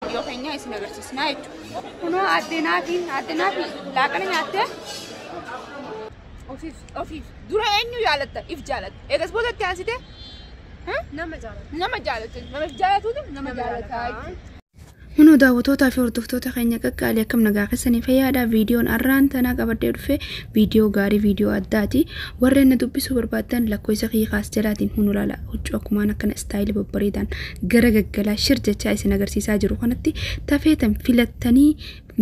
Viidiyoo keenya isin agarsiisnaa jechuudha. Kunoo addee naatiin addee naatiin laaqana nyaattee ofiif ofiif dura eenyu jaalatta if jaalatta eegas booda itti aansite Nama jaalatu. nama jaalatta nama if jaalatuutu nama jaalatta jechuudha. Kunoo daawwatootaa fi hordoftoota keenya qaqqaalii akkam nagaa keessanii fayyaadha. Viidiyoon har'aan tanaa qabadhee dhufe viidiyoo gaarii viidiyoo addaati. Warreen na dubbisuu barbaaddan lakkoofsa kiyya kaas jalaatiin hunu ilaala. Huccuu akkumaan akkana istaayilii babbareedaan garagaggalaa shir jechaa isin agarsiisaa jiru kanatti tafeetan filattanii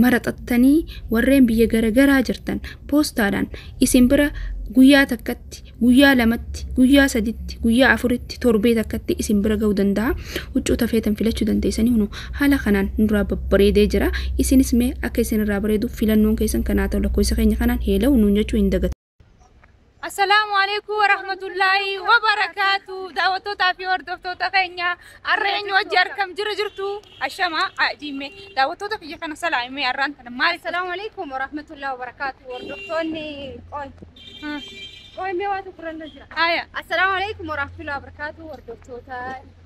maraxattanii warreen biyya garagaraa jirtan poostaadhaan isin bira guyyaa takkatti guyyaa lamatti guyyaa saditti guyyaa afuritti torbee takkatti isin bira ga'uu danda'a huccuu tafeetan filachuu dandeessanii hunu haala kanaan nurraa babbareedee jira isinis mee akka isin irraa bareedu filannoon keessan kanaa ta'u lakkoofsa keenya kanaan heela'u nuun jechuu hin dagatu. Assalaamu alaikum warahmatullaahi wabarakaatu daawwattootaa fi hordoftoota keenya har'a eenyu wajji harkam jira jirtu ashama ajiime daawwattoota kiyya kana salaamee har'aan kana maali Assalaamu alaikum warahmatullaahi wabarakaatu hordoftoonni qoy qoy mee waa tokko irra jira. haya Assalaamu alaikum warahmatullaahi wabarakaatu hordoftoota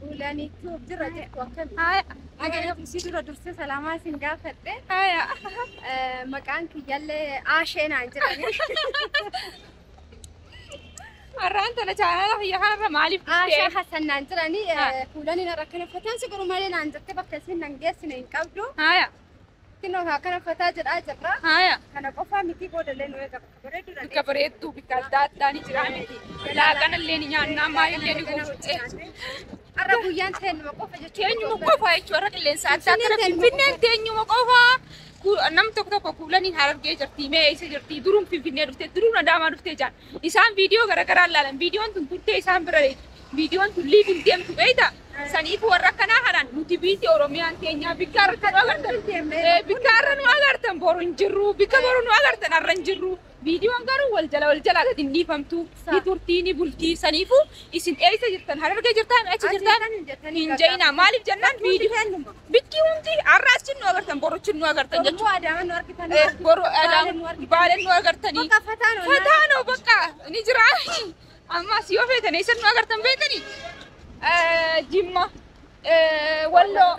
Ulani tube jira jettu akkami? Haya. Haya si dura dursee salaamaa isin gaafadhe. Haya. Eh, Maqaan kiyyallee Aashee naan jedhani. Har'aan tana chaanala kiyya kanarra maaliif Aashaa dhuftee? Hassan naan jedhani. Ah. Ulani narra kana fataan si garuu malee naan jette bakka isin nan geessine hin qabdu. Haya. Kino haa kana fataa jedhaa jirra. Haaya. Kana qofaa mitii booda illee nu eegama. Bareedduu dha. Bakka bareedduu bakka adda addaa ni jira miti. Laaqana illee ni nyaannaa maal illee ni goonfutee. Har'a guyyaan teenyuma qofa jechuudha. Teenyuma qofa jechuudha. Har'a qilleensa adda addaa Finfinneen teenyuma Finfinneen teenyuma qofa. Ku- Nam tokko tokko kuulaniin harargee jirti mee eessa jirti duruun finfinnee dhufte duruun adaamaa dhufte jaan Isaan viidiyoo garagaraa hin laalan. Viidiyoon tun turtee isaan bira deemti. Viidiyoon tun live hin deemtu beekta. Saniif warra akkanaa kanaan nuti biiti Oromiyaan teenyaa bikka irratti nu agartan. Eh, Bikka irra nu agartan boru hin jirru. Bikka boru nu agartan har'a hin jirru. Viidiyoon garuu wal jala wal jalaa gadi hin dhiifamtu. Ni turtii ni bultii. Saniifuu isin eessa jirtan? Harargee jirtaan? Achi jirtaan? Hin ja'inaa. Maaliif jennaan viidiyoo. Bikki hundi har'a achi nu agartan boru achi nu agartan jechuudha. Boru adaaman nu argitan. Eh, boru adaaman baaleen nu agartanii. Bakka fataa nu fataa nu bakka ni jira. Ammas yoo feetan eessan nu agartan beekanii. Jimma, Walloo,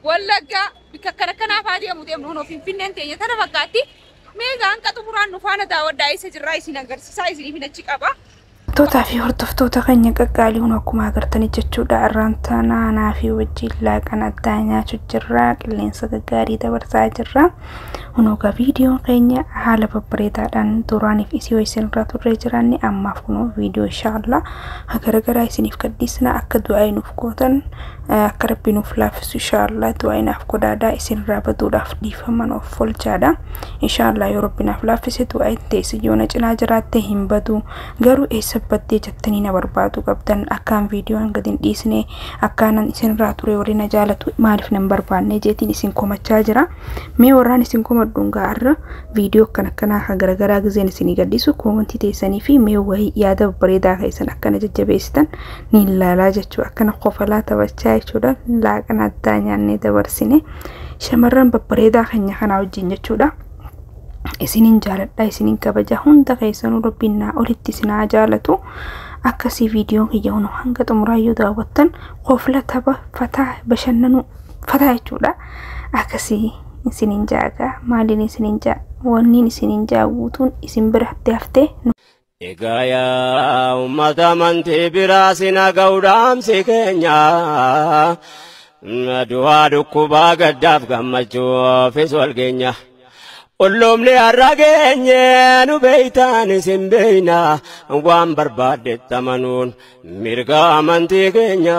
Wallaggaa bikka akkana kanaaf haa deemu deemnu hunoo Finfinneen teenya tana fakkaatti. Mee gaanqa xumuraan nu faana daawwadhaa eessa jirraa isin agarsiisaa isiniif hin achi qaba. Tootaa fi hordoftoota keenya qaqqaaliiwwan akkuma agartanii jechuudha irraan taana anaa fi wajjin laaqan addaa nyaachu jirra qilleensa gaggaarii dabarsaa jirra hunoogaa viidiyoon keenya haala babbareedaadhaan duraaniif isii wayiseen irraa turree jiraanne ammaaf kunoo viidiyoo inshaallah garagaraa isiniif gadhiisna akka du'aa nuuf gootan akka rabbi nuuf laaffisu inshaallah du'aa naaf godhaadaa isinirraa baduudhaaf dhiifaman of folchaadha. Inshaallah yoo rabbi naaf laaffise du'aa itti teessi yoo na cinaa jiraatte hin badu garuu eessa baddee jettanii na barbaadu qabdan akkaan viidiyoon gad hin dhiisne akkaanan isinirraa ture warri na jaalatu maaliif nan barbaanne jeetiin isin komachaa jira mee warraan isin komadhuun gaarra viidiyoo akkan akkanaa kan garagaraa gizeen isinii gadhiisu koomantii teessanii fi mee wayii yaada babbareedaa keessan akkana jajjabeessitan ni ilaalaa jechuu akkana kofalaa taphachaa jechuudha laaqana addaa nyaannee dabarsine. shamarran babbareedaa keenya kanaa wajjin jechuudha. Isiniin jaaladha isiniin kabaja hunda keessanuu rabbiin naa olitti isinaa jaalatu akkasii viidiyoon kiyya hunu hanga xumuraa yoo daawwattan kofla tapha fataa bashannanuu fataa jechuudha. Akkasii isiniin jaaga maaliin isiniin jaa wanniin isiniin jaa guutuun isin biratti haftee. Egaa yaa uummata amantii biraa si naga'u dhaamsi keenya. Du'aa dhukkubaa gaddaaf gammachuufis wal geenya. Qulluumni har'a geenye nu beeytaan isin beeyna waan barbaaddetti amanuun mirga amantii keenya.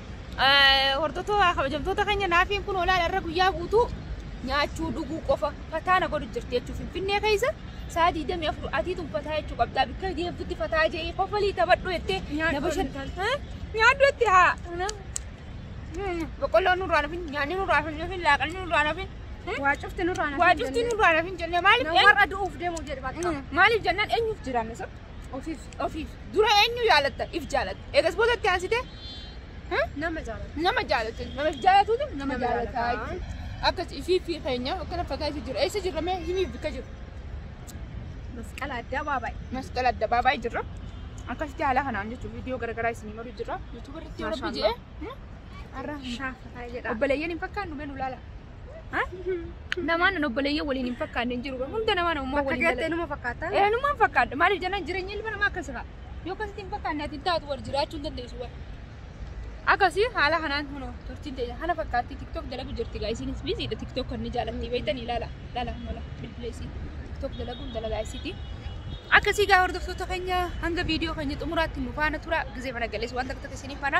Hordoftoota kabajamtoota keenya naafiin kun olaal irra guyyaa guutuu nyaachuu dhuguu qofa fataa na godhu jirti jechuun finfinnee keessa saa 24 atii tun fataa jechuu qabdaa bikka deemtutti fataa jee kofalii taphadhu jettee na bashan nyaadhu jetti haa boqqolloon nurraa nafin nyaanni nurraa nafin laaqanni nurraa nafin Waa cufti nurraa na waa cufti nurraa nafin jennee maaliif Warra du'uuf deemuu jedhe bakka. maaliif jennaan eenyuuf jiraanne sun Ofiif. Ofiif. Dura eenyu jaalatta? If jaalatta. Eegas booda itti aansite Nama jaalatu. nama jaalatta. Nama if jaalatuutu nama Nama jaalatta. jaalatta. jechuudha. Akkas ifii fi keenya akkana fagaa isa jira. Eessa jirra mee himiif bikka jiru. Masqala addaa baabaayi. Masqala adda baabaa jirra. Akkasitti haala kanaan jechuun viidiyoo garaagaraa isinii maruu jirra. Yuutuubarratti yoo rabbi Maashaallah. jedhee. Har'a Shaafataa jedha. obboleeyyan hin fakkaannu mee nu laala. Namaan nan obboleeyyan waliin hin fakkaanne hin jiru. Hunda namaa namummaa Bakka waliin gatte numa fakkaata. Eh, numaan fakkaadha. Maaliif jennaan jireenya ilma namaa akkas ta'a. Yoo akkasitti hin fakkaanne ati hin taatu wal jiraachuu hin dandeessu wal. Akkasii haala kanaan kunoo turtiin ta'e kana fakkaatti tiktok dalagu jirti gaa isinis biziidha tiktok kan ni jaalatti beektan ilaala ilaala mala bilbileessi tiktok dalaguun dalagaa isiti. Akkasii gaa hordoftoota keenya hanga viidiyoo keenya xumuraatti nu faana tura gizee mana galees waan takka takka isiniif faana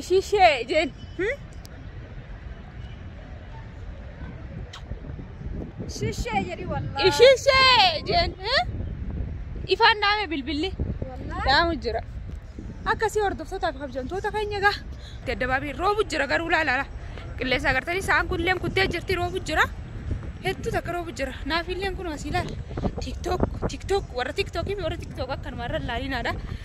Ishii ishee jeen. Shishee jedhi wallaahi. Ishii ishee jeen. Ifaan dhaame bilbilli. Wallaahi. Dhaamu jira. Akkasii hordoftootaa fi kabajamtoota keenya egaa daddabaabii roobu jira garuu laalaala. Qilleensa agartanii sa'aan kun illeen kuttee jirti roobu jira. Hedduu takka roobu jira. Naaf illeen kun asii laala. Tiktok tiktok warra tiktok fi warra tiktok akkanuma irra laalinaadha.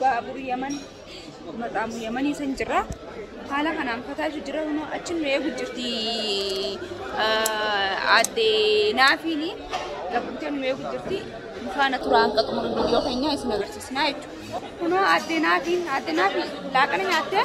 baabur yaman maqaamu yamanii san jira haala kanaan fataatu jira kunoo achi nu eegu jirti adde naafiin gabbutee nu eegu jirti faana turaa hanqa xumura viidiyoo keenyaa isin agarsiisnaa jechuudha kunoo adde naafiin adde naafiin laaqana nyaattee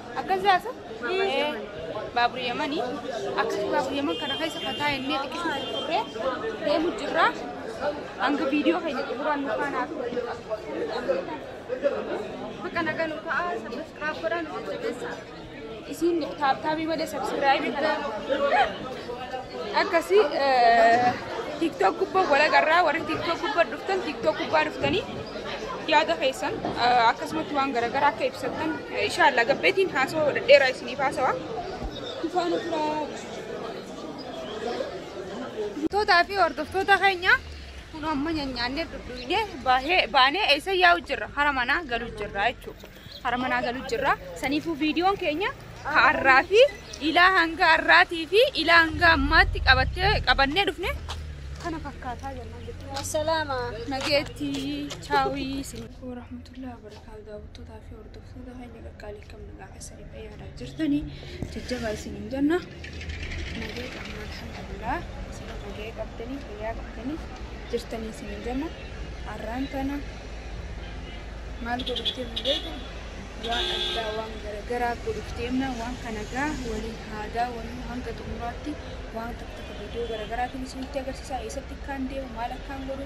Akkas jaasa baabura yamanii akkasii baabura yaman kana keessa fataa jennee xiqqisuu turree deemu jirra hanga viidiyoo keenya xumuraan nu faanaa Bakka nagaa nu ta'a sabbasiraaf godhaa nu jajjabeessa. Isiin taabtaabii malee sabsiraayibii kana akkasii tiktok gubbaa walagarraa warri tiktok gubbaa dhuftan tiktok gubbaa dhuftanii yaada keessan akkasumatti waan garaagaraa akka ibsattan inshaallah gabbeetiin haasoo dhedheeraa isiniif haasawa. Tootaa fi hordoftoota keenya kun amma nyaanyaannee dhudhuunee baanee eessa yaa'u jirra hara manaa galu jirra jechuudha. Hara manaa galu jirra. Saniifuu viidiyoon keenya ka arraa fi ilaa hanga arraatii fi ilaa hanga ammaatti qabattee qabannee dhufne kana fakkaataa jennaan jechuudha. Salaama. Nageetti chaawii isin. Alaikum warahmatullahi wabarakatuh. Daawwattootaa fi hordoftoota keenya qaqqaalii kam nagaa keessanii fayyaadhaa jirtanii jajjabaa isiniin jenna. Nagee qabna alhamdulillah isin nagee qabdanii fayyaa qabdanii jirtanii isin jama arraan tana maal godhuftee mul'eetu waan addaa waan garagaraa godhuftee himna waan kana gaa waliin haadaa waliin hanga xumuraatti waan tokko tokko viidiyoo garaagaraatiin isinitti agarsiisaa eessatti akkaan deemu maal akkaan godhu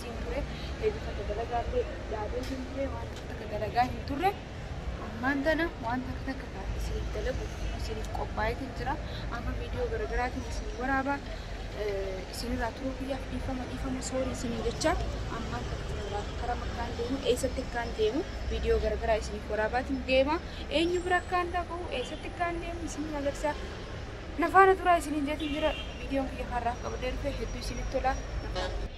wajjin ture heduu takka dalagaa illee yaadee hin ture waan takka takka dalagaa hin turre ammaan tana waan takka takka kan isiniif dalagu isiniif qophaa'eetiin jira amma viidiyoo garaagaraatiin isin waraabaa eh, isinirraa turuu kiyyaaf dhiifama dhiifama soorii isiniin jecha ammaan tana kanarraa karaa akkaan deemu eessatti akkaan deemu viidiyoo garaagaraa isiniif waraabaatiin deema eenyu bira akkaan dhaqu eessatti akkaan deemu isiniin agarsiisa nafaana turaa isiniin jeetiin jira viidiyoon kiyya har'aaf qabadee dhufe hedduu isinitti tola nafaana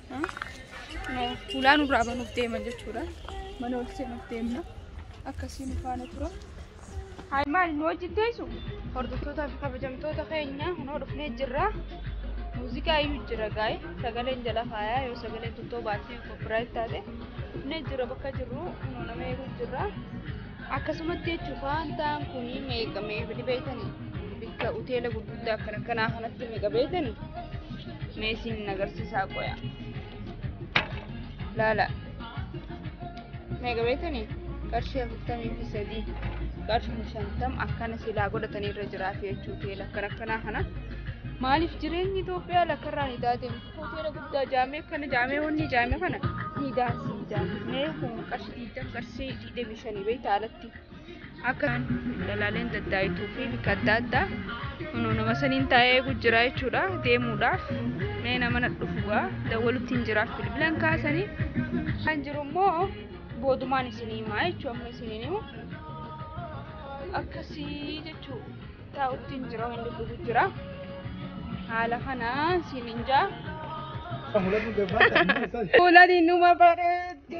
Fuulaa nurraa banuuf deeman jechuudha. Mana ol seenuuf deemna. Akkasii nu faana tura. Haay maal nu wajjin teessu? Hordoftoota fi kabajamtoota keenya kunoo dhufnee jirra. Muuziqaa iyyuu jira gaa'e sagaleen jala faayaa yoo sagaleen tuttoo baasii koppiraayit taate dhufnee jirra bakka jirru kunoo nama eeguu jirra. Akkasumatti jechuun faantaan kun meeqa meeqa beektani bikka hoteela gurguddaa akkana kanaa kanatti meeqa beektani meesiin hin agarsiisaa qoya. Laala meeqa beektani qarshii afurtamii fi sadii qarshii shantam akkana silaa godhatanii irra jiraaf jechuu hoteela akkana kanaa kana. Maaliif jireenyi Itoophiyaa lakkarraa ni taate hoteela guddaa jaamee akkana jaamee wanni jaamee kana ni daansi jaamee kun qarshii digdam qarshii deemii shanii beektaa alatti akka dhalaaleen daddaayituu fi bika adda addaa kunoo nama saniin taa'ee eegu jira jechuudha deemuudhaaf mee nama na dhufugaa dawwalutti hin jiraaf bilbilan kaasanii kan jiru immoo boodumaan isin himaa jechuu amma isiniin himu akkasii jechuu taa'utti hin jira hin dubbisu jira haala kanaa siin hin jaa Fuulani numa bareeddi.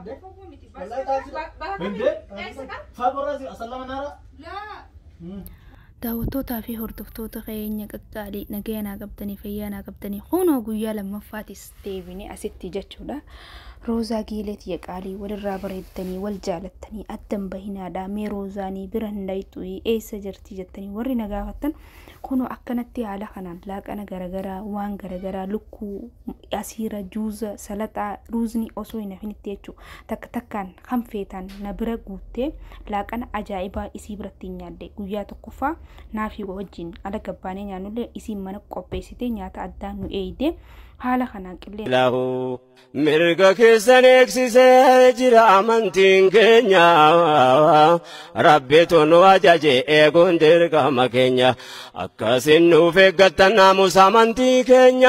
Abbo fagoo miti. Wallahi taasisa. Ba- baha kami? Hindee? Eessa kan? Faaborraa si asallama naara. Laa. Daawwattootaa fi hordoftoota keenya qaqqaalii nagaya naa qabdanii fayyaa naa qabdanii kunoo guyyaa lammaffaatis deebinee asitti jechuudha. Roozaa giilee tiyya qaalii walirraa bareeddanii wal jaalattanii addan bahinaadhaa mee roozaanii bira hin dhayxuyi eessa jirti jettanii warri na gaafattan Kunoo akkanatti haala kanaan laaqana garagaraa, waan garagaraa, lukkuu, asiira, juuza, salaxaa, ruuzni osoo hin hafinitti jechuudha. Takka takkaan kan feetan na bira guuttee laaqana ajaa'ibaa isii biratti hin nyaadde. Guyyaa tokkoffaa naafii wajjin ala gabbaanee nyaannullee isiin mana qopheessitee nyaata addaa nu eeyde. Haala kanaan qilleensa. Ilaahu Mirga keessan eegsisee jira amantiin keenya rabbitu nu ajaje eeguun dirqama keenya akkasiin nuuf eeggattan naamusa amantii keenya.